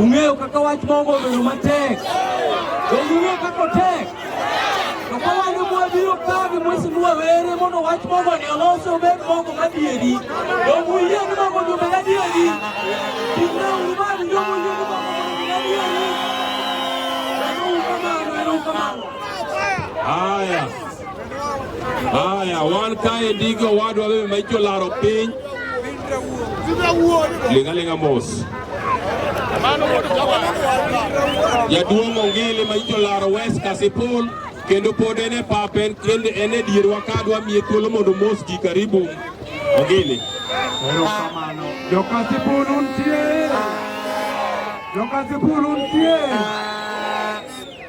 Ung'eyo kaka wach mogo obedo matek. Donge ung'eyo kaka otek? To ka wan e mwa biro kawo gi mwesi mwa were mondo wach mogo ni olosi obed mogo madieri. Donge uyie ni mogo ni obed adieri? Timna uru mani donge uyie ni mogo ni obed adieri? Ero kamano, ero kamano. Haya. Haya, wan kae ndiko wadwa bebe ma icho laro piny lingalinga mos jaduong' Ongili ma icho laro West Kasipul kendo pod en e pap en kendo en e dierwa ka dwa miye thuolo mondo mos ji karibu Ongili. Erokamano. Jokasipul untie. Jokasipul untie.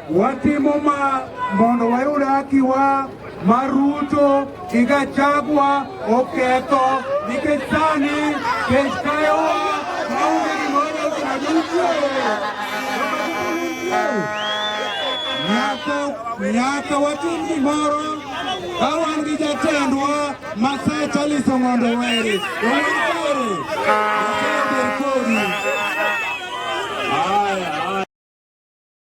Watimo ma mondo wayud hakiwa ma Ruto gi Gachagua oketho nikech sani kech kayowa maonge gimoro osaduchwe nyaka watim gimoro ka wan gi jatendwa Masai Charles Ong'ondo Were